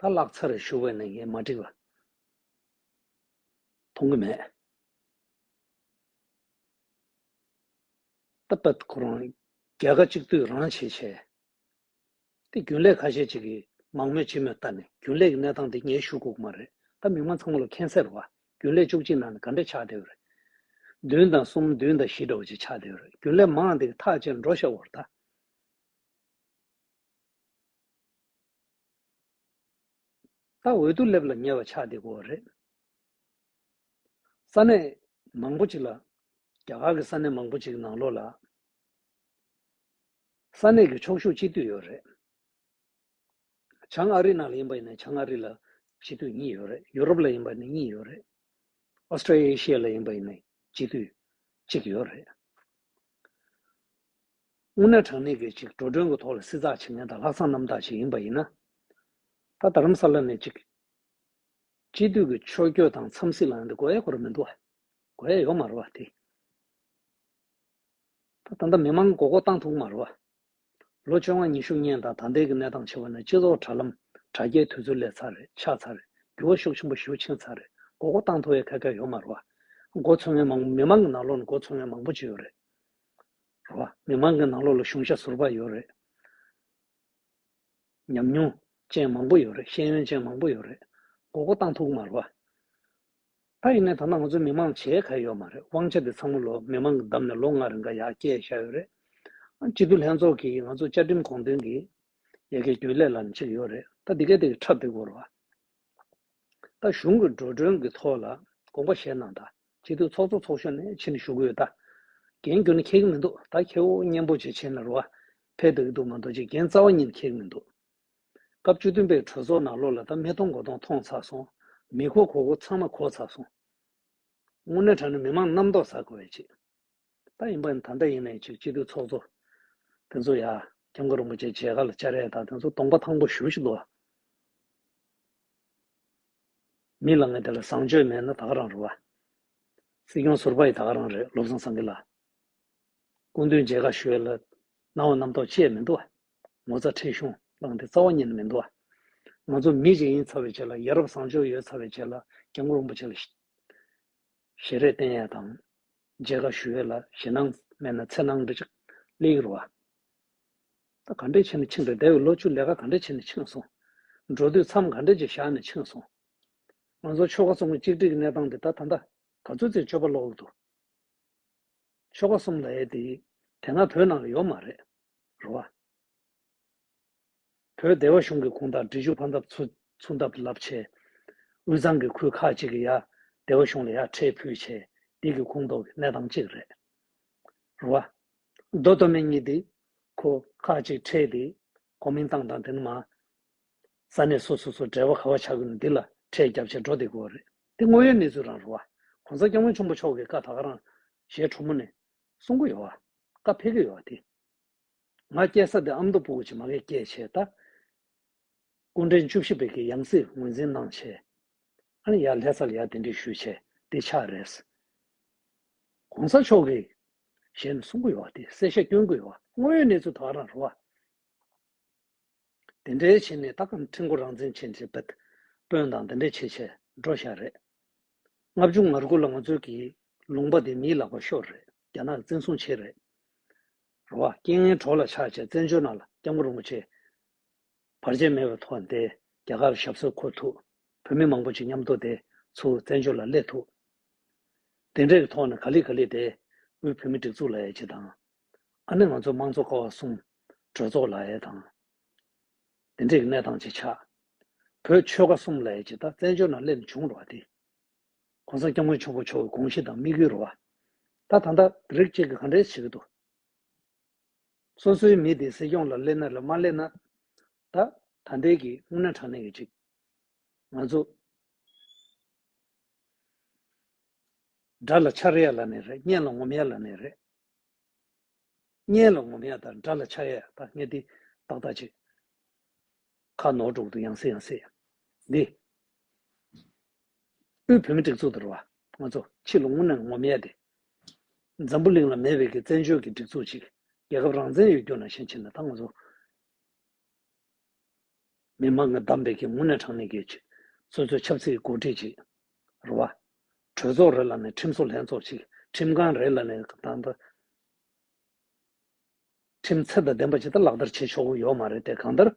ད་ལག་ཚ་རེ་ཞུ་བས་ནས་ངས་མ་འགྲིག་ལ། མཐོང་གི་མེད། ད་པད་ཁོ་རང་རྒྱལ་ཁ་གཅིག་དུས་རང་བྱེད་བྱས། དེ་རྒྱུན་ལས་ཁ་ཤས་ཅིག་གིས་མང་མོས་བྱེད་མོས་ལྟ་ནས་རྒྱུན་ལས་ཀྱི་གནས་སྟངས་དེ་ངས་ཞུ་དགོས་ཀྱི་མ་རེད་ད་མི་མང་ཚང་མ་ལ་ཁེན་སེར་བ་རྒྱུན་ལས་བཅུ་གཅིག་ནང་ནས་ག་འདྲས་ཆགས་བསྡད་རེད། བདུན་དང་གསུམ་བདུན་དང་བཞི་འདྲ་བོ་ཅིག་ཆགས་བསྡད་རེད་རྒྱུན་ལས་མང་འདི་གི་ཐག་བཅད་འགྲོ་ཤ་བོར་ད། བརྟག་འོས་དུ་སླེབས་ལ་ཉེ་བ་ཆགས་བསྡད་དགོས་བ་རེད། ས་གནས་མང་པོ་ཅིག་ལ། རྒྱ་གར་གྱི་ས་གནས་མང་པོ་ཅིག་ནང་ལོགས་ལ། ས་གནས་ཀྱི་ཕྱོགས་ཤུགས་གཅིག་སྡུད་ཡོད་རེད། བྱང་ཨ་རི་ནང་ལ་ཡིན་པ་ཡིན་ན་བྱང་ཨ་རི་ལ་གཅིག་སྡུད་གཉིས་ཡོད་རེད། ཡུ་རོབ་ལ་ཡིན་པ་ཡིན་ན་གཉིས་ཡོད་རེད། Australia Asia ལ་ཡིན་པ་ཡིན་ན་གཅིག་སྡུད་གཅིག་ཡོད་རེད། དབུ་ནག་གྲངས་མེད་ཀྱིས་ཅིག་འགྲོ་གྲོན་གྱི་ཐོག་ལ་བསྲི་ཚགས་བྱེད་མཁན་དང་ལྷག་བསམ་རྣམ་དག་ཅིག་ཡིན་པ་ཡིན་ན། ད་རྡ་རམ་ས་ལ་ནས་ཅིག། སྤྱི་འཐུས་ཀྱི་ཕྱོགས་སྐྱོད་དང་འཚམས་གཟིགས་ལ་ཡོང་དུས་དགོས་ཡ་གོ་ར་མི་འདུག་གོ་ཡ་ཡོད་མ་རེད་བ་དེ། ད་ད་ལྟ་མི་མང་མགོ་སྐོར་བཏང་ཐུབ་གི་མ་རེད་བ། ལོ་བཅོ་ལྔ་ཉི་ཤུ་བསྙེན་དང་ད་ལྟའི་གི་གནས་སྟངས་ཕྱི་བ་ནས་སྤྱི་ཚོགས་དྲ་ལམ་དྲ་རྒྱའི་དུས་ཚོད་ལས་ཚར་རེད་ཆགས་ཚར་རེད་འགྱུར་བ་ཤུགས་ཆེན་པོ་ཞུ་ཕྱིན་ཚར་རེད་མགོ་སྐོར་བཏང་ཐུབ་ཡ་ཁ་ཁ་ཡོད་མ་རེད་བ། མགོ་འཚོས་མཁན་མང་མི་མང་གི་ནང་ལོགས་ནས་མགོ་འཚོས་མཁན་མང་པོ་ཅིག་ཡོད་རེད། རེད་བ། མི་མང་གི་ནང་ལོགས་ལ་གཞུང་ཞབས་ཟུར་པ་ཡོད་རེད། ཉམས་མྱོང་ཅན་མང་པོ་ཡོད་རེད། ཤེས་ཡོན་ཅན་མང་པོ་ཡོད་རེད། མགོ་སྐོར་བཏང་ཐུག་མར་བ། ད་ཡིན་ནའི་ད་ནང་ང་ཚོའི་མི་མང་བྱས་ག་ཡོད་མ་རེད་དབང་ཆ་དེ་ཚང་མ་ལོ་མི་མང་གི་བདམས་ནས་ལོ་ལྔ་རིང་ག་ཡག་སྐྱེལ་བཞག་ཡོད་རེད། སྤྱི་འཐུས་ལྷན་ཚོགས་ཀྱིས་ང་ཚོ་བཅའ་ཁྲིམས་དགོངས་དོན་གྱི་ཡལ་གའི་རྒྱུན་ལས་ལ་ནི་ཆིག་ཡོད་རེད་ད་དེ་གའི་དེ་གའི་འཁྲབ་དེ་གོ་རེད་བ། ད་གཞུང་གི་འགྲོ་གྲོན་གྱི་ཐོག་ལ་དགོངས་པ་བཞེས་གནང་དང་གཅིག་སྡུད་ཚོགས་གཙོ་ཚོགས་གཞོན་ནས་ཕྱི་ནས་ཞུ་གི་ཡོད་ད། འགན་ཁྱོད་ནས་འཁྱེར་གྱི་མི་འདུག་ད་ཁྱེད་འོག་གཉེན་པོ་བཅས་བྱེད་ན་རུ་བ་ཕེབས་འདོད་ཀྱི་འདུག་མ་འདོད་ཅིག་འགན་རྩ་བ་ཉིད་ནས་འཁྱེར་གྱི་མི་འདུག་སྐབས་བཅུ་བདུན་པའི་གྲོས་ཚོགས་ནང་ལོ་ལ་ད་མི་གཏོང་མགོ་གཏོང་མཐོང་ཚར་སོང། མི་གོ་གོ་གོ་ཚང་མ་གོ་ཚར་སོང། དངོས་གནས་དྲ་ནས་མི་མང་རྣམ་རྟོག་ཟ་དགོས་བས་ཆེ། ད་ཡིན་པ་ད་ལྟ་ཡིན་ནའི་ཅིག་སྐྱིད་སྡུག་ཚོགས་གཙོ། དེ་ཚོ་ཡ། སྐྱབས་མགོན་རིན་པོ་ཆེ་ཇེ་ག་ལ་བཅར་ཡས་ད་དེ་ཚོ་སྟོང་པ་ཐང་པོ་བཞུགས་ཤིག་དུ། མི་ལ་ངས་དེ་ལ་བཟང་སྤྱོད་མེད་ན་ད་ག་རང་རེད་བ། སྲིད་སྐྱོང་ཟུར་པ་ཡི་ད་ག་རང་རེད་བློ་བཟང་སངས་གི་ལ། སྐུ་མདུན་ཇེ་ག་ཞུས་ལ། ནང་བ་རྣམ་རྟོག་བཅས་མི་འདུག་བ། ངོ་ཚ་ཁྲེལ་གཞུང་བླངས་ཏེ་རྩ་བ་ཉིད་ནས་མི་འདུག་བ། ང་ཚོ་མི་གཅིག་ཡིན་ཚར་བའི་ཆེད་ལ་ཡ་རབས་བཟང་སྤྱོད་ཡོད་ཚར་བའི་ཆེད་ལ་སྐྱབས་མགོན་རིན་པོ་ཆེ་ལ། ཞེས་རས་བསྟན་ཡས་དང། མཇལ་ཁ་ཞུ་འོས་ལ་ཞེད་སྣང་མེད་ན་འཚེར་སྣང་འབྲི་ཅིག། གླེང་རུ་བ། ད་ག་འདྲས་བྱས་ནས་ཕྱིན་པས་འདས་བའི་ལོ་བཅུ་ལས་ཀ་ག་འདྲས་བྱས་ནས་ཕྱིན་སོང། འགྲོ་དུས་མཚམས་ག་འདྲས་ཀྱིས་བཞག་ནས་ཕྱིན་སོང། ང་ཚོ་ཆོལ་ཁ་གསུམ་གྱི་གཅིག་སྒྲིལ་གྱི་གནས་སྟངས་འདི་ད་ད་ལྟ་ག་ཚོད་ཚེ་སྤྱོད་པ་ལོག་གི་འདུག་ཆོལ་ཁ་གསུམ་ལ་ཡས་དེ་དེ་སྔ་བོད་ནང་ལ་ཡོད་མ་རེད་རུ་བ། བོད་སྡེ་བ་གཞུང་གི་གུང་ཐང་འབྲི་ཆུ་ཕར་འདབས་ཚུར་འདབས་རླབས་ཆེ། དབུས་གཙང་གི་ཁུལ་ཁག་ཅིག་གི་ཡ། སྡེ་བ་གཞུང་ལ་ཡ་ཁྲེལ་ཕུད་ཆེ། འདི་གི་ཁུངས་གཏོགས་ཀྱི་གནས་སྟངས་གཅིག་རེད། རུ་བ། རྡོ་སྟོད་སྨད་གཉིས་འདི། ཁུ། ཁག་ཅིག་ཁྲེལ་འདི། གོ་མིན་ཏང་དང་དེ་ནི་མ། ས་གནས་སོ་སོ་སོ་འབྲེལ་བ་ག་བ་ཆགས་ཀྱི་ནི་འདི་ལ་ཁྲེལ་རྒྱབ་ཆེ་འགྲོ་འདི་གོ་རེད། འདི་དངོས་ཡོད་གནས་ཚུལ་རང་རུ་བ། གོང་ས་སྐྱབས་མགོན་ཆེན་པོ་མཆོག་གི་བཀའ་ད་ག་རང། ཞེས་ཁྲོ་མོ་ནས། གསུང་གི་ཡོ་བ། བཀའ་ཕེབས་ཀྱི་ཡོ་བ་དེ། ང་སྐྱེ་ས་འདི་ཨ་མདོ་སྤོ་བོ་ཆེ་མ་གེ་སྐྱེས་བྱས་ད། སྐུ་འདྲེན་བཅུ་བཞི་བེ་ཀེ་ཡང་སྲིད་ངོས་འཛིན་གནང་བྱས། ཨཱ་ཡ་ལྷས་ཚར་ཡག་དེ་འདྲི་ཞུ་བྱས་དེ་ཆགས་རེད། གོང་ས་མཆོག་གིས། གཞན་གསུང་གི་ཡོག་དེ་གསལ་བཤད་སྐྱོན་གི་ཡོག་དངོས་ཡོད་གནས་ཚུལ་དོག་རང་རོ་བ། དེ་འདྲའི་བྱེད་ནི་ད་ཁམས་ཁྲི་མགོ་རང་བཙན་བྱེད་འདྲའི་བེད་དཔོན་དང་དེ་འདྲའི་བྱེད་བྱེད་འགྲོ་ཤ་རེད། ལྔ་བཅུ་ང་དགུ་ལ་ང་ཚོའི་གི་ལུང་པ་དེ་མིའི་ལག་པ་ཤོར་རེད་རྒྱ་ནག་གི་བཙན་བཟུང་བྱེད་རེད། རེད་བ། རྐྱེན་ངན་གྲོགས་ལ་ཆགས་བྱས་བཙན་བྱོལ་ནང་ལ་སྐྱབས་མགོ་རིང་པོ་བྱེད། བར་ཆད་མེད་པའི་ཐོག་འདས་རྒྱ་གར་ཞབས་སོར་འཁོར་ཐུབ། བོད་མི་མང་པོ་ཅིག་མཉམ་དུ་དེ་ཚུ་བཙན་བྱོལ་ལ་སླེབས་ཐུབ། དེ་འདྲའི་གི་ཐོག་ནས་ག་ལི་ག་ལི་དེ་དབུས་བོད་མི་སྒྲིག་འཛུགས་ལ་ཡ་བྱེད་དང་ཨ་ནི་ང་ཚོའི་དམངས་གཙོ་ཀ་བ་སྲུང། གྲོས་ཚོགས་ལ་ཡས་དང། འདི་འདྲས་ཀྱི་གནས་སྟངས་ཅིག་ཆགས། བོད་ཆོལ་ཁ་གསུམ་ལ་ཡས་ཀྱི་ད་བཙན་བྱོལ་ནང་སླེབས་བྱུང་རོགས་དེ། གོང་ས་སྐྱབས་མགོན་ཆོས་འཁོར་མཆོག་གི་དགོངས་གཞི་དང་དམིགས་ཡུལ་རོགས། ད་ད་ད་རིགས་གཅིག་གི་ག་འདྲས་བྱེད་ཀྱི་འདུག། སོ་སོའི་མི་དེ་སྲིད་སྐྱོང་ལ་སླེབས་ན་ལ་མ་སླེབས་ན། ད་ད་འདས་ཀྱི་དངོས་གནས་དྲང་གནས་ཀྱི་ཅིག། ང་ཚོ། དགྲ་ལ་འཕྱར་ཡས་ལ་ནས་རེད་གཉེན་ལ་ངོམ་ཡས་ལ་ནས་རེད། གཉེན་ལ་ངོམ་ཡ་དང་དགྲ་ལ་ཕྱག་གཡས་དང་ངེ་འདི་ཏག་ཏག་བྱེད། ཁ་ནོར་དྲུག་ཏུ་ཡང་སེ་ཡང་སེ། འདི། དབུས་བོད་མི་སྒྲིག་འཛུགས་དར་བ། ང་ཚོ་ཕྱི་ལ་སྔུར་ནས་ངོམ་ཡས་ཏེ། འཛམ་བུ་གླིང་ལ་མེད་པའི་གི་བཙན་བྱོལ་གི་སྒྲིག་འཛུགས་ཅིག་རྒྱལ་ཁབ་རང་བཙན་ཡོད་རྒྱུ་ན་ཞེན་ཆེ་ན་ད་ང་ཚོ། མི་དམངས་ཀྱི་བདམས་པའི་གིས་དངོས་གནས་དྲང་གནས་གྱིས་ཆེད། སོ་སོའི་ཆབ་སྲིད་འགོ་ཁྲིད་ཀྱིས། རུ་བ། གྲོས་ཚོགས་རེ་ལ་ནས་ཁྲིམས་བཟོ་ལྷན་ཚོགས་ཀྱིས་ཁྲིམས་ཁང་རེ་ལ་ནས་དང་དུ། ཁྲིམས་ཚད་དང་ལྡན་པ་ཇི་ལྟར་ལག་བསྟར་བྱེད་ཆོག་གི་ཡོད་མ་རེད་དེ་གང་ལྟར།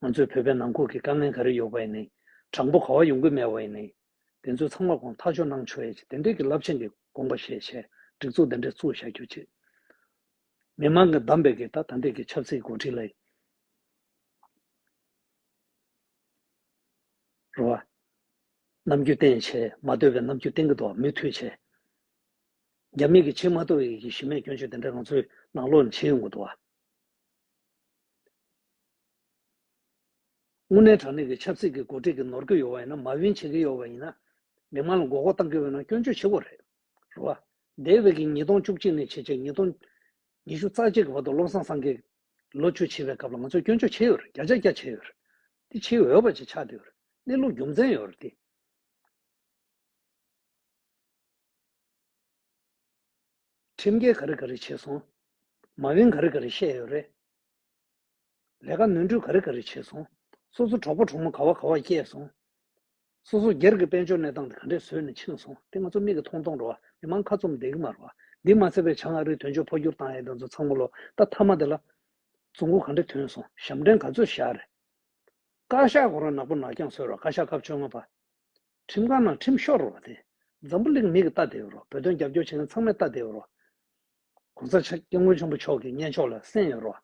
ང་ཚོའི་བོད་པའི་ནང་ཁུལ་གྱི་དཀའ་ངལ་ག་རེ་ཡོད་པ་ཡིན། དྲང་པོ་གོ་བ་ཡོང་གི་མེད་བ་ཡིན། དེ་ཚོའི་ཚང་མ་གོང་ཐག་ཆོད་གནང་ཆོག་ཡས་ཀྱི་དེ་འབྲེལ་གྱི་རླབས་ཆེན་གྱི་དགོངས་པ་བཞེས་བྱས་སྒྲིག་འཛུགས་དེ་འདྲས་བཙུགས་བྱ་རྒྱུ་བཅས། མི་མང་གི་གདམས་པའི་གེ་ད་ད་འདས་ཀྱི་ཆབ་སྲིད་འགོ་ཁྲིད་ལ་ཡི་རུ་བ། ནམ་རྒྱུན་བསྟེན་བྱས་མ་སྡོད་པའི་ནམ་རྒྱུན་བསྟེན་གྱི་འདུག་བ་མུས་མཐུད་བྱས། རྒྱ་མིས་གྱི་ཆེས་མ་ལྟོས་ཡས་ཀྱི་གཞི་མེད་སྐྱོན་བརྗོད་དེ་འདྲས་ང་ཚོའི་ནང་ལོག་ནས་བྱེད་ཡོང་གི་འདུག་བ། དངོས་གནས་དྲང་གནས་ཀྱི་ཆབ་སྲིད་ཀྱི་འགོ་ཁྲིད་ཀྱི་ནོར་གྱི་ཡོད་པ་ཡིན་ན་མ་བིན་བྱེད་ཀྱི་ཡོད་པ་ཡིན་ན། མི་མང་ལ་མགོ་སྐོར་གཏང་གི་ཡོད་ན་སྐྱོན་བརྗོད་བྱེད་དགོས་རེད། རེད་བ། འདས་བའི་གི་ཉིས་སྟོང་བཅུ་གཅིག་ནས་བྱེད་བྱེད་ཉིས་སྟོང་ཉི་ཤུ་རྩ་གཅིག་གི་བར་དུ་བློ་བཟང་སང་གེས་ལོ་བཅུ་བྱིས་པའི་སྐབས་ལ་ང་ཚོས་སྐྱོན་བརྗོད་བྱེད་ཡོད་རེད་རྒྱ་ཆ་རྒྱ་བྱེད་ཡོད་རེད། དེ་བྱེད་འོས་པ་ཅིག་ཆགས་བསྡད་ཡོད་རེད་གནས་ལུགས་རྒྱུ་མཚན་ཡོད་རེད་དེ། ཁྲིམས་འགལ་ག་རེ་ག་རེ་བྱས་སོང། མ་དབྱིན་ག་རེ་ག་རེ་བཤད་ཡོད་རེད། ལས་ཀ་ནོན་འཁྲུལ་ག་རེ་ག་རེ་བྱས་སོང། སོ་སོ་གྲོགས་པོ་གྲོགས་མོ་ག་བ་ག་བ་བསྐྱལ་སོང། སོ་སོ་སྒེར་གྱི་དཔལ་འབྱོར་གནས་སྟངས་དེ་ག་འདྲས་བཟོས་ནས་ཕྱིན་སོང་དེ་ང་ཚོ་མིག་གི་མཐོང་མཐོང་འགྲོ་བ་མི་མང་ཁ་བཙུམ་བསྡད་ཀྱི་མར་བ། འདི་མ་ཚད་བོད་བྱང་ཨ་རིའི་དོན་གཅོད་འཕོ་འགྱུར་བཏང་ཡས་དེ་ཚོ་ཚང་མ་ལོ་ད་མཐའ་མ་དེ་ལ། རྫུན་གུ་ག་འདྲས་ཐོན་སོང་ཞབས་འདྲེན་ག་ཚོད་བཞག་རེད། བཀའ་ཤག་གོ་རང་ནག་པོ་ནག་རྐྱང་བཟོས་རོགས་བཀའ་ཤག་སྐབས་བཅོ་ལྔ་པ། ཁྲིམས་ཁང་ནང་ཁྲིམས་ཤོར་རོགས་དེ། འཛམ་བུ་གླིང་མི་གི་རྟ་དེའུ་རོགས་བོད་དོན་རྒྱབ་སྐྱོར་བྱེད་མཁན་ཚང་མའི་རྟ་དེའུ་རོགས། གོང་ས་ཆ་སྐྱབས་མགོན་ཆེན་པོ་མཆོག་གི་གཉེན་ཕྱོགས་ལ་སེམས་ཡོད་རོགས།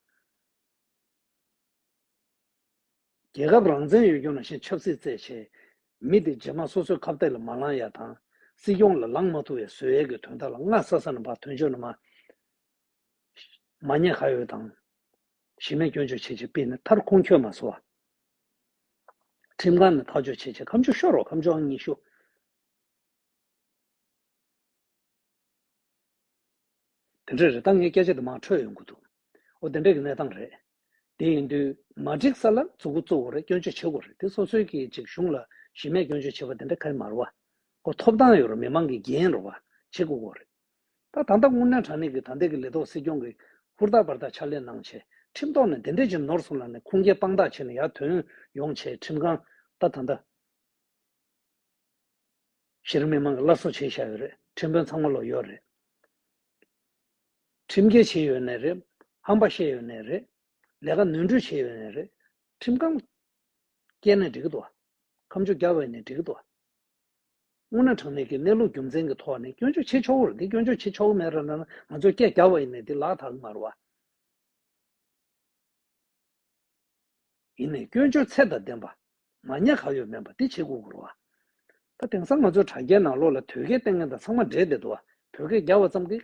རྒྱལ་ཁབ་རང་བཙན་ཡོད་རྒྱུ་ན་ཞེན་ཆབ་སྲིད་རྩད་བྱེད། མི་དེ་རྗེས་མ་སོ་སོའི་ཁ་བཏད་ལ་མ་ལང་ཡ་དང། སྲིད་སྐྱོང་ལ་ལང་མ་ཐུབ་བའི་ཟོལ་ཡལ་གི་དོན་དག་ལ་སྔ་ས་ས་ན་བ་དོན་ཆོས་ན་མ། མ་ཉེས་ག་ཡོད་དང། གཞི་མེད་སྐྱོན་བརྗོད་བྱེད་བྱེད་སྤེལ་ནས་མཐར་ཁུངས་འཁྱོལ་མ་བཟོ་བ། ཁྲིམས་ཁང་ནས་ཐག་གཅོད་བྱེད་བྱེད་ཁམས་ཕྱུག་ཤོར་བ་ཁམས་ཕྱུག་ཨང་ཉི་ཤུ། དེ་འདྲ་རེད་ད་ངའི་སྐད་ཆ་དེ་མང་འཕྲོས་ཡོང་གི་འདུག་འོ་དེ་འདྲ་གི་གནས་སྟངས་རེད། དེ་ཡིན་དུས་མ་འགྲིག་ས་ལ་འཛུགས་འགོ་བཙུགས་རེད་སྐྱོན་བརྗོད་བྱེད་དགོས་རེད་དེ་སོ་སོའི་གི་ཅིག་གཞུང་ལ་གཞི་མེད་སྐྱོན་བརྗོད་བྱེད་པ་དེ་འདྲ་ཁའི་མར་བ། འགོ་ཐོབ་ཐང་ཡོད་རུང་མི་མང་གི་རྒྱན་རུང་བ་བྱེད་དགོས་གོ་རེད། ད་ད་ལྟ་སྔོ་ནན་དྲང་ནས་ཀྱི་ད་འདས་ཀྱི་ལས་ཐོག་སྲིད་སྐྱོང་གི། ཧུར་ཐག་པར་ཐག་ཕྱག་ལས་གནང་བྱས་ཁྲིམས་ཐོག་ནས་དེ་འདྲས་ཀྱི་ནོར་སོང་ལ་ནས་ཁུངས་སྐྱེལ་དཔང་རྟགས་བྱས་ནས་ཡར་དོན་ཡོང་བྱས་ཁྲིམས་གང་ད་ད་འདས་ཞིར་མི་མང་གི་སླར་གསོ་བྱས་བཞག་ཡོད་རེད་ཁྲིམས་དཔོན་ཚང་མ་ལོག་ཡོད་རེད། ཁྲིམས་འགལ་བྱས་ཡོད་ནས་རེད། ཧམ་པ་བཤད་ཡོད་ནས་རེད། ལས་ཀ་ནོན་འཁྲུལ་བྱས་ཡོད་ནས་རེད། ཁྲིམས་གང་སྐྱེལ་ནས་འགྲིག་གི་འདུག་ཨ། ཁམས་ཆུ་རྒྱ་བས་ནས་འགྲིག་གི་འདུག་ཨ། སྔོ་ན་གྲངས་མེད་ཀྱི་གནས་ལུགས་རྒྱུ་མཚན་གྱི་ཐོག་ནས་སྐྱོན་བརྗོད་བྱེད་ཆོག་གོ་འདི་སྐྱོན་བརྗོད་བྱེད་ཆོག་གི་མེད་ར་ན་ང་ཚོས་སྐད་རྒྱག་པ་ཡིན་ནས་འདི་ལག་ཐག་མར་བ་ཡིན་ནས་སྐྱོན་བརྗོད་ཚད་དང་ལྡན་པ་མ་ཉེས་ག་ཡོད་མེད་པ་འདི་བྱེད་དགོས་གོ་ར་བ་ད་དེང་སང་ང་ཚོའི་དྲ་རྒྱའི་ནང་ལོག་ལ་དོལ་སྐད་བསྟན་མཁན་དང་ཚང་མ་འདྲེས་བསྡད་འདུག་བ་བོད་སྐད་རྒྱག་བ་ཙམ་གྱིས་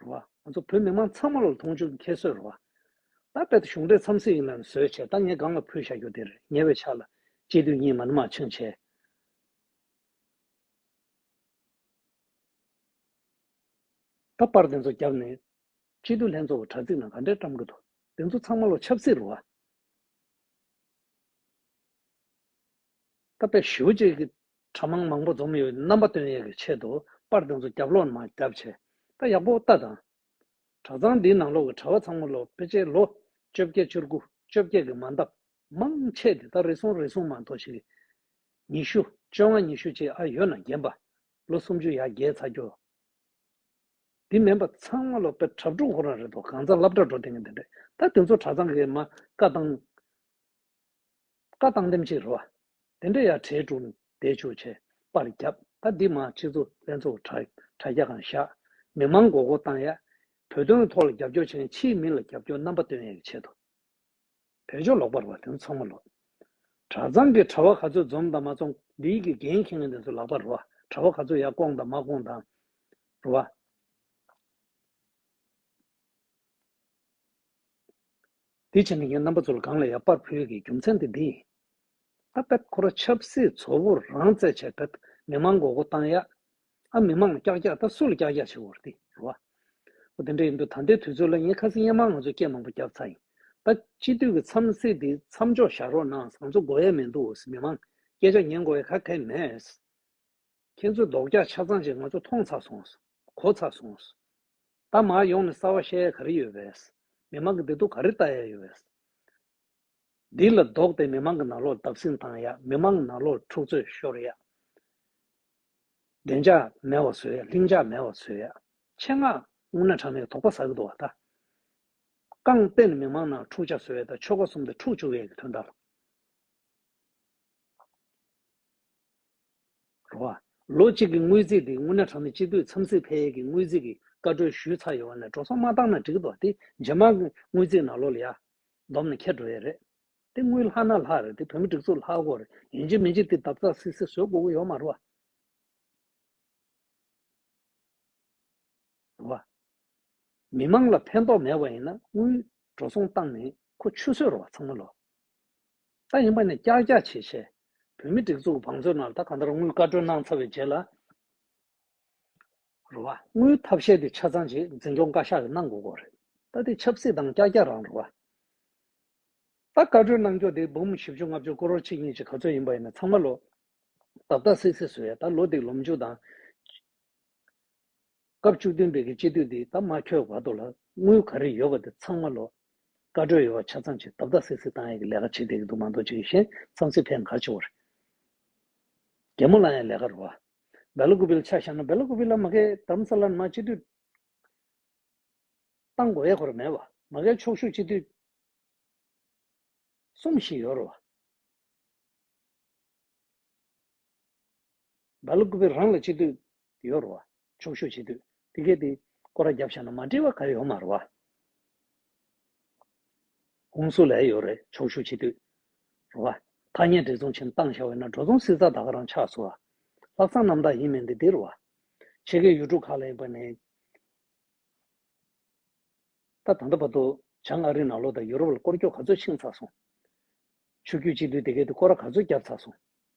རེད་བ། ང་ཚོ་བོད་མི་མང་ཚང་མ་ལ་མཐོང་ཆུང་ཁྱད་གསོད་རེད་བ། ད་རྦད་དུ་གཞུང་འབྲེལ་འཚམས་གཟིགས་ཡིན་ལ་ནི་བཟོད་ཆེ་ད་ངས་སྒང་ལ་ཕུལ་བཞག་རྒྱུ་དེ་རེད་ཉེ་བའི་ཆ་ལ་སྤྱི་འཐུས་གཉིས་མ་ནི་མ་འཆིང་བྱས། ད་པར་དེ་ཚོ་བརྒྱབ་ནས་སྤྱི་འཐུས་ལྷན་ཚོགས་ཀྱི་དྲ་ཚིགས་ནང་ག་འདྲས་བཀྲམ་གི་འདུག་དེ་ཚོ་ཚང་མ་ལ་ཆབ་སྲིད་རེད་བ། ད་རྦད་ཞི་བ་བཅས་ཀྱི་གྲྭ་མང་མང་པོ་འཛོམས་ཡོད་རྣམ་པ་སྟོན་ཡས་ཀྱི་ཆེད་དུ་པར་དེ་ཚོ་རྒྱབ་ལོག་ནང་རྒྱབ་བྱས་ད་ཡག་པོ་ལྟ་དང། གྲྭ་ཚང་འདིའི་ནང་ལོག་གི་གྲྭ་བ་ཚང་མ་ལོ་པེ་ཅེ་ལོ་བཅོ་བརྒྱད་བཅུར་དགུ་བཅོ་བརྒྱད་ཀྱི་མ་འདབ་མང་ཆེ་དེ་ད་རེ་ཟུང་རེ་ཟུང་མ་མཐོ་ཞིག་གི་ཉི་ཤུ་བཅོ་ལྔ་ཉི་ཤུ་བཅས་ཨ་ཡོད་ན་རྒན་པ་ལོ་སུམ་ཅུ་ཡར་རྒྱས་ཚ་རྒྱོ་དེ་མིན་པ་ཚང་མ་ལོ་པེ་གྲབ་དྲུག་འཁོར་ན་རེ་དོ་གང་ཚ་ལབ་གྲ་འགྲོ་དེ་ངན་དེ་འདྲ་ད་དེ་ཚོ་གྲྭ་ཚང་གི་མ་བཀའ་བཏང་བཀའ་བཏང་འདེམས་བྱེད་རོ། དེ་འདྲ་ཡ་གྲའི་དྲུང་བསྡད་ཆུ་བྱས་པར་བརྒྱབ་ད་འདི་མ་ཕྱི་ཚུ་ལྷན་ཚོགས་དྲ་རྒྱ་གང་བཞག་མི་མང་མགོ་སྐོར་བཏང་ཡ། བོད་དོན་ཐོག་ལ་རྒྱབ་སྐྱོར་བྱེད་ན་ཕྱིའི་མི་ལ་རྒྱབ་སྐྱོར་རྣམ་པ་སྟོན་ཡ་གི་ཆེད་དུ། བོད་ཆོ་ལོག་པར་བ་དེ་ཚོ་མ་ལོག། གྲྭ་ཚང་གི་གྲྭ་བ་ག་ཚོད་འཛོམས་དང་མ་འཛོམས་འདིའི་གི་འགན་ཁྱེད་ངན་དེ་ཚོ་ལག་པ་རུ་བ་གྲྭ་བ་ག་ཚོད་ཡ་སྐོང་དང་མ་སྐོང་དང་རུ་བ། དེ་བྱས་ནས་ངའི་རྣམ་པ་ཚོ་ལ་གང་ལ་ཡང་དཔར་བོད་ཀྱི་རྒྱུ་མཚན་དེ་འདི་ཡིན། ཨ་བེད་ཁོ་ར་ཆབ་སྲིད་ཚོ་བོ་རང་བཙལ་བྱས་བེད་མི་མང་མགོ་སྒོ་བཏང་ཡག། ཨ་མི་མང་ལ་ཀྱག་ཀྱག་ད་སུ་ལ་ཀྱག་ཀྱག་བྱེད་བོར་འདི་རུ་བ། ཨོ་དེ་འདྲ་ཡིན་དུས་ད་ལྟའི་དུས་ཚོད་ལ་ངས་ཁ་སི་གཡེང་མང་ང་ཚོ་སྐད་མང་པོ་རྒྱབ་ཚར་ཡིན། ད་སྤྱི་འཐུས་ཀྱི་འཚམས་གཟིགས་འདི་མཚམས་འཇོག་བཞག་རོགས་གནང་བཟང་ཚོ་གོ་ཡས་མེད་འདུག་ཨོ་སི་མི་མང་སྐད་ཆ་ཉན་གོ་ཡས་ཁ་ཁ་ཡས་མེད། ཁྱེད་ཚོ་རྡོག་རྒྱག་ཆ་ཚང་ཅིག་ང་ཚོ་མཐོང་ཚར་སོང། གོ་ཚར་སོང། ད་མར་ཡོང་ནས་གསར་བ་བཤད་ཡ་ག་རེ་ཡོད་བས། མི་མང་གི་བདེ་སྡུག་ག་རེ་ལྟ་ཡ་ཡོད་བས། འདི་ལ་རྡོག་སྟེ་མི་མང་གི་ནག་ལོག་བརྡབ་སྲིང་བཏང་ཡ་མི་མང་ནག་ལོག་འཁྲུག་རྩོད་ཤོར་ཡ། བདེ་འཇགས་མེད་བ་བཟོ་ཡ་ལྷིང་འཇགས་མེད་བ་བཟོ་ཡ། ཆེད་མངགས་སྔུན་ན་གྲངས་མེད་དོག་པ་ཟ་གི་འདུག་བ་ད། རྐང་བརྟེན་མི་མང་ནང་འཁྲུག་ཆ་བཟོ་ཡ་ད་ཆོལ་ཁ་གསུམ་དེ་འཁྲུག་བཅུག་ཡ་གི་དོན་དག་ལ། རོགས། ལོ་གཅིག་གི་དངུལ་རྩིས་འདི་སྔོན་ན་གྲངས་མེད་སྤྱི་འཐུས་འཚམས་གཟིགས་ཕལ་ཡས་ཀྱི་དངུལ་རྩིས་ཀྱི་བཀའ་བགྲོས་ཞུས་ཚར་ཡོད་བ་ནས་འགྲོ་སོང་མ་བཏང་ན་འགྲིག་མདོག་དེ་རྗེས་མ་དངུལ་རྩིས་ནག་ལོ་ལ་ཡར་བསྡོམས་ནས་ཁྱེར་འགྲོ་ཡས་རེད་དེ་དངུལ་ལྷག་ན་ལྷག་རེད་དེ་བོད་མི་སྒྲིག་འཛུགས་ལྷག་སྒོར་ཡིན་གཅིག་མིན་གཅིག་དེ་འདབ་ཚགས་སིག་སིག་བཟོས་དགོས་དགོས་ཡོད་མ་རོགས། མི་མང་ལ་ཕན་ཐོག་མེད་བ་ཡིན་ན་དངུལ་འགྲོ་སོང་བཏང་ནས་ཁོ་ཆུ་ཟོས་རོགས་ཚང་མ་ལོ་ད་ཡིན་པ་ནས་ཀྱག་ཀྱག་བྱེད་བྱས། བོད་མི་སྒྲིག་འཛུགས་བང་མཛོད་རྣམས་ད་ག་འདྲར་དངུལ་བཀའ་འཁྲོལ་གནང་ཚར་བའི་རྗེས་ལ། རུ་བ། དངུལ་ཐབས་ཤེས་དེ་ཆ་ཚང་རྗེས་འཛིན་སྐྱོང་བཀའ་ཤག་གིས་གནང་དགོས་སྐོར་རེད། ད་དེ་ཆབ་སྲིད་དང་ཀྱག་ཀྱག་རང་རུ་བ། ད་བཀའ་འཁྲོལ་གནང་སྐྱོ་དེ་འབུམ་བཞི་བཅུ་ལྔ་བཅུ་སྐོར་རོ་གཅིག་གཉིས་ཅིག་ག་ཚོད་ཡིན་པ་ཡིན་ན་ཚང་མ་ལོ། རྡབ་རྡབ་སིག་སིག་བཟོས་ཡ་ད་ལོ་འདིག་ལོ་མཇུག་དང། སྐབས་བཅུ་བདུན་པའི་གི་སྤྱི་འཐུས་འདི་ད་མ་འཁྱོལ་བར་དུ་ལ་དངུལ་ག་རེ་ཡོད་པ་དེ་ཚང་མ་ལོག། བཀའ་འགྲོས་ཡོད་བ་ཆ་ཚང་ཅིག་དབ་ད་སིག་སིག་བཏང་ཡས་གི་ལས་ཀ་བྱེད་དེ་གི་འདུག་མ་འདུག་ཅིག་གཞན་བསམ་ཚུལ་ཕལ་འགར་ཆེ་བ་རེད། རྒྱལ་མོ་ལ་ཡང་ལས་ཀ་རུ་བ། བེ་ལོ་ཀུ་བིལ་ཆ་ཤ་ན་བེ་ལོ་ཀུ་བིལ་ལ་མ་གས་དམ་ས་ལ་ན་མ་སྤྱི་འཐུས་བཏང་གོ་ཡས་གོ་ར་མེད་བ་མ་གས་ཕྱོགས་བཞུགས་སྤྱི་འཐུས་གསུམ་ཞིག་ཡོད་རུ་བ། བེ་ལོ་ཀུ་བིལ་རང་ལ་སྤྱི་འཐུས་དེའོ་རུ་བ། ཆོག་ཤོས་བྱེད་དུས་དེ་སྐད་དེ། ཀོ་ར་རྒྱབ་བཞག་ན་མ་འབྲེལ་བ་ག་ཡོད་མ་རུ་བ། ཧུང་སུ་ལའེ་ཡོད་རེད་ཆོག་ཤོས་བྱེད་དུས། རུ་བ། ཐ་སྙད་འབྲེལ་མཚུངས་ཆེན་བཏང་བཞག་འོད་ན་འགྲོ་རྫོང་སྲིད་རྩ་དག་རང་ཆགས་སུ་བ། ལྷག་བསམ་རྣམ་དག་ཡིན་མིན་དེ་དེ་རུ་བ། ཕྱེད་ཀའི་ཡུལ་གྲུ་ཁག་ལ་ཡིན་པ་ནི། ད་ད་ལྟ་བར་དུ། བྱང་ཨ་རི་ནང་ལོགས་དང་ཡུ་རོབ་ལ་སྐོར་སྐྱོད་ག་ཚོད་ཕྱིན་ཚར་སོང། ཆུ་རྒྱུས་གཅིག་སྡུད་དེ་སྐད་དེ་ཀོ་ར་ག་ཚོད་བརྒྱབ་ཚར་སོང།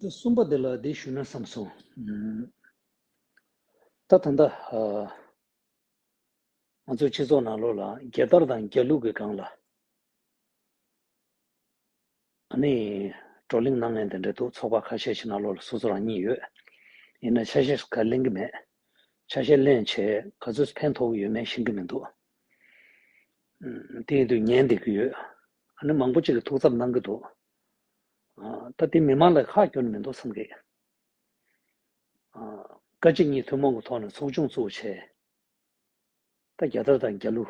གསུམ་པ་འདི་ལ་འདི་ཞུ་ན་བསམ་སོང། ད་ད་ལྟ། ང་ཚོའི་སྤྱི་ཚོགས་ནང་ལོགས་ལ་རྒྱལ་དར་དང་རྒྱལ་གླུ་གི་སྒང་ལ། ཨ་ནི། བགྲོ་གླེང་གནང་མཁན་དེ་འདྲ་འདུག་ཚོགས་པ་ཁ་ཤས་ཤིག་ནང་ལོགས་ལ་སོ་སོ་རང་ཉིད་ཡོད། ཡིན་ན་ཆ་ཤས་ག་གླེང་གི་མེད། ཆ་ཤས་གླེང་བྱས་ག་ཚོད་ཕན་ཐོགས་ཀྱི་ཡོད་མེད་ཤེས་ཀྱི་མི་འདུག། དེ་ཡིན་དུས་ཉན་བསྡད་ཀྱི་ཡོད། ཨ་ནི་མང་པོ་གཅིག་གིས་ཐུགས་འཚབ་གནང་གི་འདུག། ད་དེ་མི་མང་ལ་ཁག་སྐྱོན་མི་འདུག་བསམ་གི། བཀའ་སྤྱི་གཉིས་ཐུན་མོང་གི་ཐོག་ནས་ཚོགས་ཆུང་བཙུགས་བྱས། ད་རྒྱ་དར་དང་རྒྱ་ཀླུ།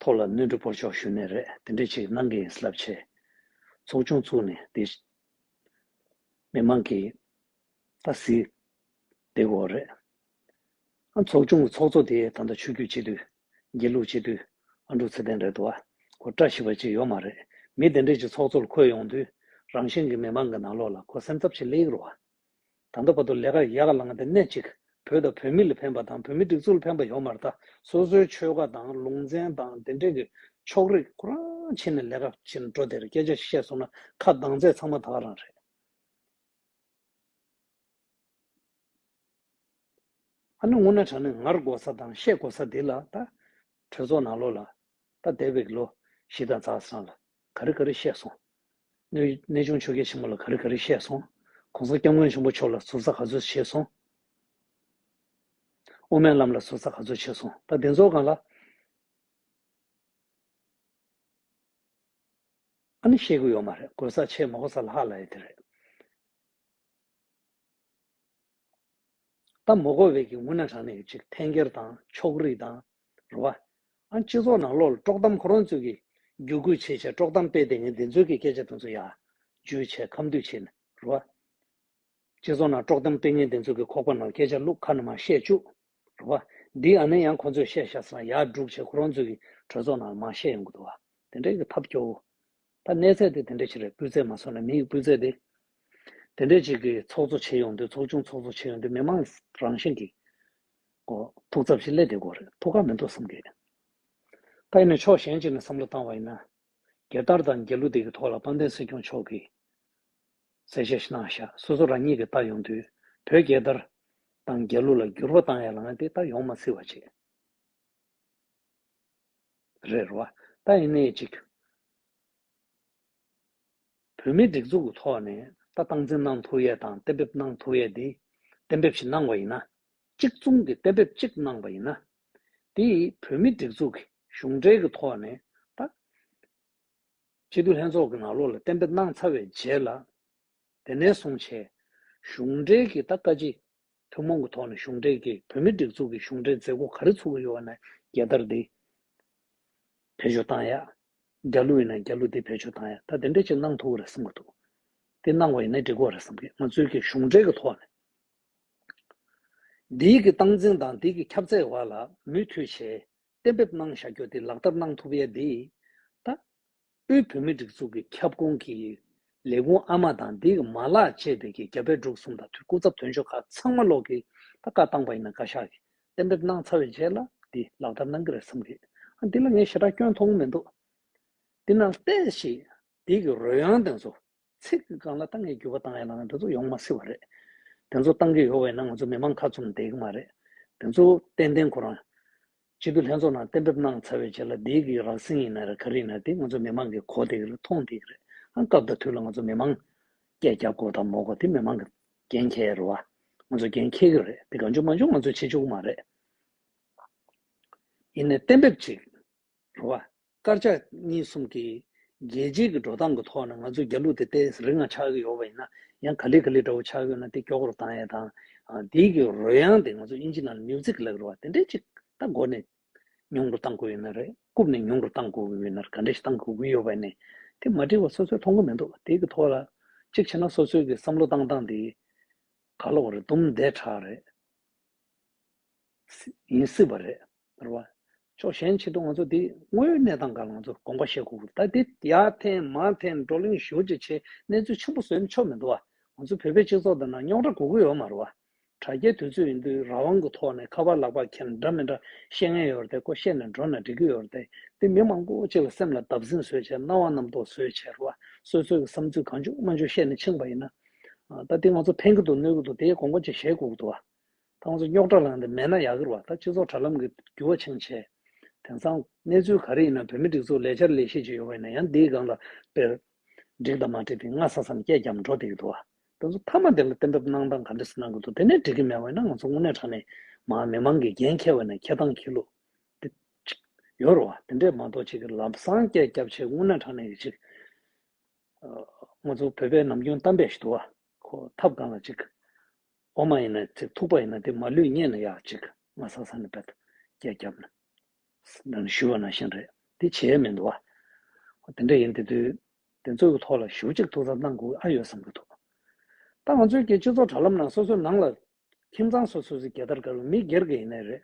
ཐོག་ལ་གནོན་འཕྲི་པོར་ཆོག་ཞུ་ནས་རེད་དེ་འདྲས་ཆིག་གནང་གི་ཡིན་སླབ་བྱས། ཚོགས་ཆུང་བཙུགས་ནས་དེ། མི་མང་གི། ད་གཟིགས། དེ་གོ་རེད། ཨ་ཚོགས་ཆུང་གི་ཚོགས་གཙོ་དེ་ད་ལྟ་ཆོས་རྒྱུད་སྤྱི་འཐུས། དགེ་ལུགས་སྤྱི་མཐུས། ཨ་འབྲུག་ཚེ་བརྟན་རེད་འདུག་ཨ། ཁོ་བཀྲ་ཤིས་པ་ཅིག་ཡོད་མ་རེད། མི་དེ་འདྲས་ཀྱི་ཚོགས་གཙོར་འཁོད་ཡོང་དུས། རང་གཞན་གྱི་མི་མང་གི་ནང་ལོག་ལ་ཁོ་སེམས་འཚབ་ཆེ་ལེགས་རུ་བ། ད་ལྟ་བར་དུ་ལས་ཀ་ཡག་ལངས་ཏེ་སྣེ་གཅིག་བོད་དང་བོད་མི་ལ་ཕན་པ་དང་བོད་མི་སྒྲིག་འཛུགས་ལ་ཕན་པ་ཡོང་མར་ད་སོ་སོའི་ཆོལ་ཁ་དང་ལུང་ཚན་དང་དེ་འདྲས་ཀྱི་ཕྱོགས་རིས་ཁོ་རང་ཕྱིན་ནས་ལས་ཀ་བྱེད་འགྲོ་དེར་སྐད་ཆ་བཤད་སོང་ན་ཁ་གདངས་ཚད་ཚང་མ་དག་རང་རེད། ཨ་ནུ་སྔོ་ན་བྲག་ནི་ངར་དགོ་ས་དང་ཤད་དགོ་ས་དེ་ལ་ད། གྲོས་ཚོགས་ནང་ལོ་ལ། ད་དེ་བེག་ལོ། ཞི་དང་ཛག་སང་ལ། ག་རི་ག་རི་བཤད་སོང། གནས་ཆུང་ཆོལ་ཁའི་ཆེན་མོ་ལ་ག་རི་ག་རི་བཤད་སོང། གོང་ས་སྐྱབས་མགོན་ཆེན་པོ་མཆོག་ལ་ཟུར་ཟ་ག་ཚོད་བྱས་སོང། དབུ་མའི་ལམ་ལ་ཟུར་ཟ་ག་ཚོད་བྱས་སོང་ད་བདེན་ཚོགས་ཁང་ལ། ཨ་ནི་བཤད་གི་ཡོད་མ་རེད་དགོས་ས་ཆེ་མ་གོ་ས་ལྷག་ལ་ཡོད་དེ་རེད། ལྟ་མོ་གོ་བས་ཀྱི་སྔུན་ན་གྲངས་ནས་ཅིག་འཐེན་འཁྱེར་དང་ཕྱོགས་རིས་དང། རུ་བ། ཨང་སྤྱི་ཚོགས་ནང་ལོག་ལ་དཀྲོག་གཏམ་ཁོ་རང་ཚོས་ཀྱི་རྒྱུ་ཁུལ་བྱེད་ཆེད་དཀྲོག་གཏམ་སྤེལ་དེ་ངས་འདི་ཚོའི་ཀྱི་སྐད་ཆ་དེ་ཚོ་ཡག་བརྗོད་བྱས་ཁམས་དུས་ཕྱིན། རུ་བ། སྤྱི་ཚོགས་ནང་དཀྲོག་གཏམ་སྤེལ་ངས་འདི་ཚོའི་ཀྱི་ཁོག་པ་ནང་སྐད་ཆ་བླུག་ཁ་ན་མ་བཤད་བཅུག། རུ་བ། འདི་ཨ་ནེ་ཡང་ཁོ་ཚོས་བཤད་ཤག་སང་ཡག་སྒྲུག་བྱས་ཁོ་རང་ཚོའི་ཀྱི་གྲོས་ཚོགས་ནང་ལ་མ་བཤད་ཡོང་གི་འདུག་བ། དེ་འདྲའི་ཀྱི་ཐབས་སྐྱོ་བོ། ད་གནས་ཚད་དེ་དེ་འདྲའི་ཆེ་རེད་སྤུས་ཚད་མ་སོང་ནས་མི་ཡི་སྤུས་ཚད་དེ་དེ་འདྲའི་ཆེ་གི་ཚོགས་གཙོ་བྱེད་ཡོང་དུས་ཚོགས་ཆུང་ཚོགས་གཙོ་བྱེད་ཡོང་དུས་མི་མང་རང་བཞིན་གིས་གོ་ཐུག་ཚབ་ཞིག་སླེ་དེ་གོ་རེད་ཐུག་ཁག་མི་འདུག་བསམ་གི། ད་ཡིན་ནའི་ཕྱོགས་གཞན་ཅིག་ནས་བསམ་བློ་བཏང་བ་ཡིན་ན། རྒྱལ་དར་དང་རྒྱལ་གླུ་དེ་གི་ཐོག་ལ་དཔལ་ལྡན་སྲིད་སྐྱོང་མཆོག་གིས་གསལ་བཤད་ཤི་གནང་བཞག་སོ་སོ་རང་ཉིད་ཀྱིས་ལྟ་ཡོང་དུས་བོད་རྒྱལ་དར་དང་རྒྱལ་གླུ་ལ་འགྱུར་བ་བཏང་ཡ་ལང་དེ་ད་ཡོང་མ་སྲིད་བ་ཅིག་རེད་རོ། ད་ཡིན་ནའི་ཅིག། བོད་མིའི་སྒྲིག་འཛུགས་ཀྱི་ཐོག་ནས་ད་སྟངས་འཛིན་གནང་ཐུབ་ཡས་དང་གཏན་འབེབས་གནང་ཐུབ་ཡས་དེ། གཏན་འབེབས་ཞིག་གནང་བ་ཡིན་ན། གཅིག་མཚུངས་ཀྱི་གཏན་འབེབས་གཅིག་གནང་བ་ཡིན་ན། དེ་ཡིས་བོད་མིའི་སྒྲིག་འཛུགས་ཀྱི་གཞུང་འབྲེལ་གྱི་ཐོག་ནས་ད། སྤྱི་འཐུས་ལྷན་ཚོགས་ཀྱི་ནང་ལོགས་ལ་གཏན་འབེབས་གནང་ཚར་བའི་རྗེས་ལ། དེ་ནས་བཟུང་བྱས། གཞུང་འབྲེལ་གྱི་ད་བཀའ་སྤྱི། ཐུན་མོང་གི་ཐོག་ནས་གཞུང་འབྲེལ་གྱི་བོད་མིའི་སྒྲིག་འཛུགས་ཀྱི་གཞུང་འབྲེལ་མཛད་སྒོ་ག་རེ་ཚུགས་ཀྱི་ཡོད་བ་ན་རྒྱལ་དར་འདི་བེད་སྤྱོད་བཏང་ཡག། རྒྱ་ལུགས་ཡིན་ན་རྒྱ་ལུགས་འདི་བེད་སྤྱོད་བཏང་ཡག་ད་དེ་འདྲ་ཅིག་གནང་ཐུག་གི་རེད་བསམ་གྱི་འདུག་དེ་གནང་བ་ཡིན་ན་འགྲིག་གོ་རེད་བསམ་གྱི་ང་ཚོའི་གི་གཞུང་འབྲེལ་གྱི་ཐོག་ནས་འདི་གི་སྟངས་འཛིན་དང་འདི་གི་ཁྱབ་ཚད་བར་ལ་མུས་མཐུད་བྱས་གཏན་འབེབས་གནང་བཞག་རྒྱུ་འདི་ལག་བསྟར་གནང་ཐུབ་ཡག་འདི་ད་དབུས་བོད་མིའི་སྒྲིག་འཛུགས་ཀྱི་ཁྱབ་ཁོངས་ཀྱི་ལས་ཁུངས་ཨ་མ་དང་དེའི་མ་ལག་བཅས་སྡེ་དགེ་རྒྱ་བལ་འབྲུག་གསུམ་དང་དུས་སྐུ་ཚབ་དོན་གཅོད་ཁག་ཚང་མ་ལོག་གི་ད་བཀའ་བཏང་པ་ཡིན་ན་བཀའ་ཤག་གིས་གཏན་འབེབས་གནང་ཚར་བའི་རྗེས་ལ་འདི་ལག་བསྟར་གནང་གི་རེད་བསམ་གི་ཨ་འདི་ལ་ངས་ཞེ་དྲག་སྐྱོན་མཐོང་མི་འདུག་དེ་ན་བལྟས་ཤིག་དེའི་གི་རོལ་དབྱངས་དེ་ཚོ་ཚིག་གི་སྒང་ལ་གཏང་གི་རྒྱུ་བ་གཏང་ཡ་ལ་དེ་ཚོ་ཡོང་མ་སྲིད་བ་རེད། དེ་ཚོ་གཏང་གི་ཡོད་བས་ན་ང་ཚོ་མི་མང་ཁ་ཙུམ་འདེགས་མ་རེད། དེ་ཚོ་ཏན་ཏན་ཁོ་རང། སྤྱི་འཐུས་ལྷན་ཚོགས་ནང་གཏན་འབེབས་གནང་ཚར་བའི་རྗེས་ལ་འདི་གི་རགས་ཟིན་ཡིན་ན་རེད་ག་རེ་ཡིན་ན་དེ་ང་ཚོ་མི་མང་གི་གོ་དེ་གི་རེད་ཐོང་དེ་གི་རེད་ཨང་སྐབས་དང་དུས་ལ་ང་ཚོ་མི་མང། སྐད་རྒྱག་གོ་དང་མོ་གོ་དེ་མི་མང་གི་འགན་ཁྱེར་རེད་བ། ང་ཚོ་འགན་འཁྱེར་གི་རེད་དེ་ག་འཇུག་མ་འཇུག་ང་ཚོས་བྱེད་འཇུག་མ་རེད། ཡིན་ནས་གཏན་འབེབས་གཅིག་རེད་བ། དཀར་ཆག་གཉིས་གསུམ་གྱི། རྒྱལ་སྤྱིའི་གི་འགྲོ་སྟངས་གི་ཐོག་ནས་ང་ཚོ་རྒྱ་ལུག་དེ་ཏེ་རི་འང་ཆགས་ཀྱི་ཡོད་པ་ཡིན་ན། ཡང་ག་ལེ་ག་ལེ་འདྲ་བོ་ཆགས་ཀྱི་ཡོད་ན་དེ་སྐྱོ་གོར་བཏང་ཡས་དང། དེའི་གི་རོལ་དབྱངས་དེ་ང་ཚོ་དབྱིན་ཇི་ནང་ལ Music ལབ་རོ་བ་དེ་འདྲས་ཅིག་ད་སྒོ་ནས། མྱོང་རོ་བཏང་དགོས་ཡོད་ན་རེད་རྐུབ་ནས་མྱོང་རོ་བཏང་དགོས་གི་ཡོད་ན་རེད་ག་འདྲས་ཞིག་བཏང་དགོས་གི་ཡོད་པ་ཡིན་ནས། དེ་མ་འབྲེལ་བ་སོ་སོའི་མཐོང་གི་མི་འདུག་དེའི་གི་ཐོག་ལ། གཅིག་བྱས་ན་སོ་སོའི་གི་བསམ་བློ་བཏང་སྟངས་དེ། ག་ལོག་རེད་དུམ་མདས་དྲག་རེད། ཡིན་སྲིད་པ་རེད། བར་བ། ཕྱོགས་གཞན་ཆེད་དུ་ང་ཚོ་འདི་དངོས་ཡོད་གནས་སྟངས་གང་ལ་ང་ཚོ་དགོངས་པ་བཞེས་དགོས་ཀྱི་ད་འདི་ཡ་འཐེན་མ་འཐེན་བགྲོ་གླེང་ཞུ་རྗེས་ཆེ་གནས་ཚུལ་ཆེན་པོ་བཟོས་ཆོག་མི་འདུག་བ། ང་ཚོ་བོད་པའི་སྤྱི་ཚོགས་འདི་ན་རྙོག་དྲ་གོ་གི་ཡོད་མར་བ། དྲ་རྒྱའི་དུས་ཚོད་ཡིན་དུས་རང་དབང་གི་ཐོག་ནས་ཁ་པར་ལག་པར་འཁྱེར་ན་འདྲ་མི་འདྲ་བཤད་ངན་ཡོད་རེད་དེ་ཀོ་བཤད་ནས་འགྲོ་ན་འགྲིག་གི་ཡོད་རེད་དེ་འདི་མི་མང་པོ་གཅིག་ལ་སེམས་ལ་བརྡབ་གསིང་བཟོས་བྱས་སྣང་བ་རྣམ་རྟོག་བཟོས་བྱས་རེད་བ་སོ་སོས་ཀྱི་བསམ་ཚུལ་གང་བཅུག་སྨོན་འཇུག་བཤད་ནས་ཕྱིན་པ་ཡིན་ན། ད་འདི་ང་ཚོ་འཐེན་གྱི་འདུག་གནོད་ཀྱི་འདུག་དེའི་དགོངས་པ་གཅིག་བཞེས་དགོས་ཀྱི་འདུག་བ། ཁོང་ཚོ་རྙོག་དྲ་ལངས་ཏེ་མེད་ན་ཡག་གི་རེད་བ་ད་སྤྱི་ཚོགས་དྲ་ལམ་གི་འགྱུར་བ་ཆེན་བྱས། དེང་སང། གནས་ཚུལ་ག་རེ་ཡིན་ན་བོད་མི་སྒྲིག་འཛུགས་ལས་འཆར་ལས་ཤེས་ཅིག་ཡོད་པ་ཡིན་ན་ཡང་འདིའི་སྒང་ལ་སྤེལ། འགྲིག་དང་མ་འགྲིག་དེ་སྔ་ས་སམ་སྐད་རྒྱབ་འགྲོ་དེ་ཡི་འདུག་བ། དེ་ཚོ་མཐའ་མ་དེ་ལ་གཏན་འབེབས་གནང་སྟངས་ག་འདྲི་ས་གནང་གི་འདུག་དེ་ནས་འགྲིག་གི་མེད་བ་ཡིན་ན་ང་ཚོ་དངོས་གནས་དྲ་གནས་མ་མི་མང་གི་འགན་འཁྱེར་བ་ནས་འཁྱེར་སྟངས་ཁྱི་ལུག། དེ། ཡོད་རེད་བ་དེ་འདྲས་མ་གཏོགས་གཅིག་གི་ལབ་སང་སྐད་རྒྱབ་ཆེད་དངོས་གནས་དྲ་གནས་ཀྱི་གཅིག། ང་ཚོ་བོད་པའི་ནམ་རྒྱུན་གཏམ་དཔེ་ཞིག་འདུག་བ། ཁོ་ཐབས་གང་ལ་གཅིག། འོ་མ་ཡིན་ན་ཚིག་ཐུག་པ་ཡིན་ན་དེ་མ་ལུས་རྙེད་ན་ཡག་གཅིག་ང་ས་ས་ནས་བལྟ། སྐད་རྒྱབ་ན། ནང་ཞུ་བ་ནང་བཞིན་རེད་དེ་བྱས་མི་འདུག་ཨ། དེ་འདྲ་ཡིན་དེ་དུས། དེ་ཚོ་གི་ཐོག་ལ་ཞུ་གཅིག་ཐུག་ཙམ་གནང་དགོས་ཨ་ཡོད་བསམ་གྱི་འདུག་ད་ང་ཚོའི་གི་སྤྱི་ཚོགས་དྲ་ལམ་ནང་སོ་སོའི་ནང་ལ། ཁྱིམ་ཚང་སོ་སོ་སི་གེ་དར་དཀར་བའི་མི་སྒེར་གི་ཡིན་ནའི་རེད།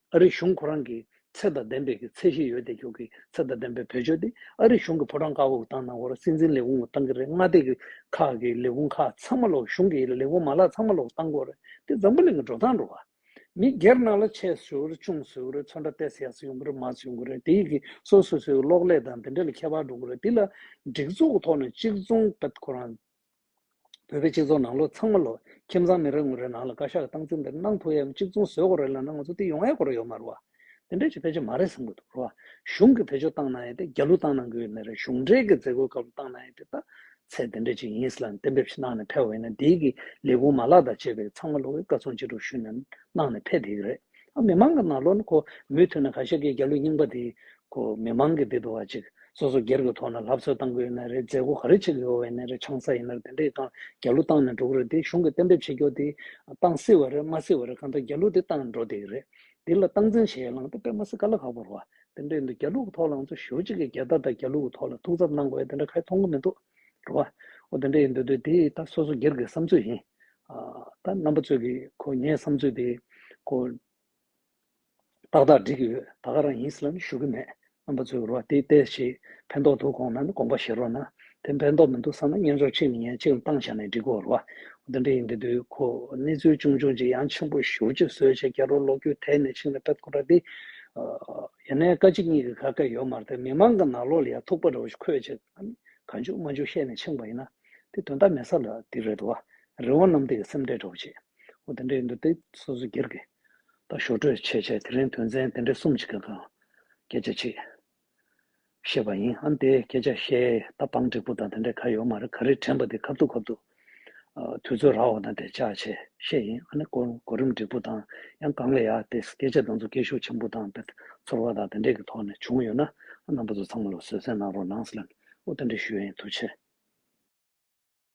ཨ་རི་གཞུང་ཁོ་རང་གིས་ཚད་དང་ལྡན་པའི་གི་ཚད་ཤེས་ཡོད་དེ་ཁྱོད་གིས་ཚད་དང་ལྡན་པའི་བོད་ཆོས་དེ་ཨ་རི་གཞུང་གི་ཕོ་བྲང་བཀག་འགོག་བཏང་ནང་བོར་སྲིད་འཛིན་ལས་ཁུངས་བཏང་གི་རེད་མངའ་སྡེ་གི་ཁག་གི་ལས་ཁུངས་ཁག་ཚང་མ་ལོག་གཞུང་གི་ལས་ཁུངས་མ་ལག་ཚང་མ་ལོག་བཏང་འགོ་རེད་དེ་འཛམ་བུ་གླིང་གི་འགྲོ་སྟངས་འགྲོ་བ། མི་སྒེར་ནང་ལ་ཆས་སུ་རེད་ཆུང་སུ་རེད་ཚོན་ཁྲ་གཏད་སའི་ཡོང་གི་རེད་མ་སུ་ཡོང་གི་རེད་དེ་ཡི་གི་སོ་སོ་སོའི་གི་གློག་ཀླད་དང་དེ་འདྲ་ལ་ཁྱད་པར་འགྲོ་གི་རེད་དེ་ལ་སྒྲིག་འཛུགས་ཐོག་ནས་གཅིག་མཚུངས་ཁོ་རང་བོད་པའི་སྤྱི་ཚོགས་ནང་ལོ་ཚང་མ་ལོ་ཁྱིམ་ཚང་མི་རེ་ངོ་རེ་ནང་ལ་བཀའ་ཤག་གི་སྟངས་འཛིན་འདིར་སྣང་ཐུག་ཡ་གཅིག་མཚུངས་བཟོས་གོ་རེ་ལབ་ན་ང་ཚོ་འདི་ཡོང་ཨེ་གོ་རེ་ཡོད་མ་རེད་བ། འདི་འདྲས་ཀྱི་ཕལ་ཆེར་མ་རེད་བསམ་གི་འདུག་རེད་བ། གཞུང་གི་བེད་སྤྱོད་བཏང་གནང་ཡ་དེ་རྒྱ་ལུགས་བཏང་གནང་གི་ཡོད་མེད་རེད་གཞུང་འབྲེལ་གི་མཛད་སྒོའི་སྐབས་ལ་བཏང་གནང་ཡ་དེ་ད་ཚེ་འདི་འདྲས་ཅིག་ཡིན་ས་ལ་གཏན་འབེབས་ཤིག་གནང་ནས་ཕེབས་བ་ཡིན་ན་འདིའི་གི་ལས་ཁུངས་མ་ལག་དང་བཅས་པས་ཚང་མ་ལོ་བའི་བཀའ་ཚོང་ཅི་དྲུག་ཞུས་ནས་གནང་ནས་ཕེབས་དེ་གི་རེད། ཨ་མི་མང་གི་ནང་ལོ་ན་ཁོ་མོས་ཐོས་ན་ག་ཤེད་ཀྱི་རྒྱ་ལུགས་རྙིང་པ་དེའི་ཁོ་མི་མང་གི་བདེ་དུ་བ་ཅིག་སོ་སོ་སྒེར་གི་ཐོག་ན་ལྷབ་གསོལ་བཏང་གི་ཡོད་ན་རེད་མཛད་སྒོ་ག་རེ་བྱེད་གི་ཡོད་བས་ན་རེད་ཆང་ས་ཡིན་ནར་དེ་འདྲ་ཡི་ཐང་རྒྱ་ལུགས་བཏང་ནས་འགྲོ་གི་རེད་དེ་གཞུང་གི་གཏན་འབེབས་བྱེད་རྒྱོ་དེ་བཏང་སི་བ་རེད་མ་སི་བ་རེད་གང་ལྟར་རྒྱ་ལུགས་དེ་བཏང་འགྲོ་དེ་ཡི་རེད་དེ་ལ་སྟངས་འཛིན་བྱེད་ཡ་ལང་དེ་པད་མ་སི་ཀ་ལ་ཁག་པོར་བ་དེ་འདྲ་ཡི་འདུག་རྒྱ་ལུགས་གི་ཐོག་ལང་ཚོ་ཞུ་གཅིག་གི་རྒྱལ་དར་དང་རྒྱ་ལུགས་གི་ཐོག་ལ་ཐུགས་འཚབ་གནང་གི་བས་དེ་འདྲ་ཁ་ཡི་མཐོང་གི་མི་འདུག་རུ་བ་འོ་དེ་འདྲ་ཡི་འདུག་དུས་དེ་ཡི་ད་སོ་སོ་སྒེར་གི་བསམ་ཚུལ་ཡིན་ཨ་ད་རྣམ་པ་ཚོས་གི་ཁོ་ངའི་བསམ་ཚུལ་དེ་ཁོ། ཏག་ཏག་འགྲིག་གི་ཡོད་ད་ག་རང་ཡིན་ཟེར་ལ་ནི་ཞུ་གི་མེད་རྣམ་པ་ཚོས་རོ་འདི་བལྟས་ཞེས་ཕན་ཐོག་འདུག་དགོངས་ན་ནི་དགོངས་པ་བཞེས་རོགས་གནང་དེ་ཕན་ཐོག་མི་འདུག་བསམ་ན་བརྙན་འཇོག་གཅིག་ལ་ཉན་གཅིག་ལ་བཏང་བྱས་ནས་འགྲིག་གོ་རོགས་འདི་འདྲ་ཡིན་གི་འདུག་གོ་གནས་ཚུལ་ཅུང་ཅུང་ཅིག་ཡང་ཆེན་པོ་ཞུ་ཅིག་བཟོད་བྱས་རྒྱལ་རོགས་ལོ་རྒྱུས་ཐད་ནས་ཕྱིང་ལ་ཕེབས་ཁོ་ར་འདི་ཡ་ནའི་བཀའ་སྤྱི་གཉིས་ཀྱི་ག་ག་ཡོད་མར་ཐལ་མི་མང་གི་ནག་ལོག་ལ་ཡ་ཐུག་པ་རོ་ཁོས་ཅི་ག་འཇུག་མ་འཇུག་བཤད་ནས་ཕྱིང་བ་ཡིན་ན་དེ་དོན་དག་མེད་ས་ལ་འདི་རེད་དོ་རི་བོང་གནམ་བདེ་གི་སེམས་ཁྲལ་འགྲོ་བྱེད། ཨོ་དེ་འདྲའི་འདུག་སྟེ་སོ་སོ་སྒེར་གྱི་དང་ཞོར་སྤྲོད་བྱས་བྱས་དེ་རིང་དོན་ཚན་དེ་འདྲའི་གསུམ་གྱི་སྐབས་དང་སྐད་ཆ་བྱེད། ཤེས་པ་ཡིན་ཨང་དེ་སྐད་ཆ་བཤད་ད་སྤང་འགྲིག་པོ་དང་དེ་འདྲའི་ག་ཡོད་མ་རེད་ག་རེ་དྲན་པ་དེ་ཁབ་ཏུ་ཁབ་ཏུ། དུས་ཚོད་རག་བ་དང་དེ་བཅག་བྱས་ཤེས་ཡིན་ཨ་ནི་གོ་རིམ་འགྲིག་པོ་དང་ཡང་གང་ལ་ཡ་དེ་སྐད་ཆ་དང་ཚོ་སྐད་ཤུགས་ཆེན་པོ་དང་དེ་ཚོར་བ་དང་དེ་འདྲའི་གི་ཐོག་ནས་བྱུང་ཡོད་ན་ཨ་རྣམ་པ་ཚོ་ཚང་མ་ལ་བཟོད་བསྲན་གནང་རོགས་གནང། ཨོ་དེ་འདྲའི་ཞུ་ཡིན་དུ་ཆེ།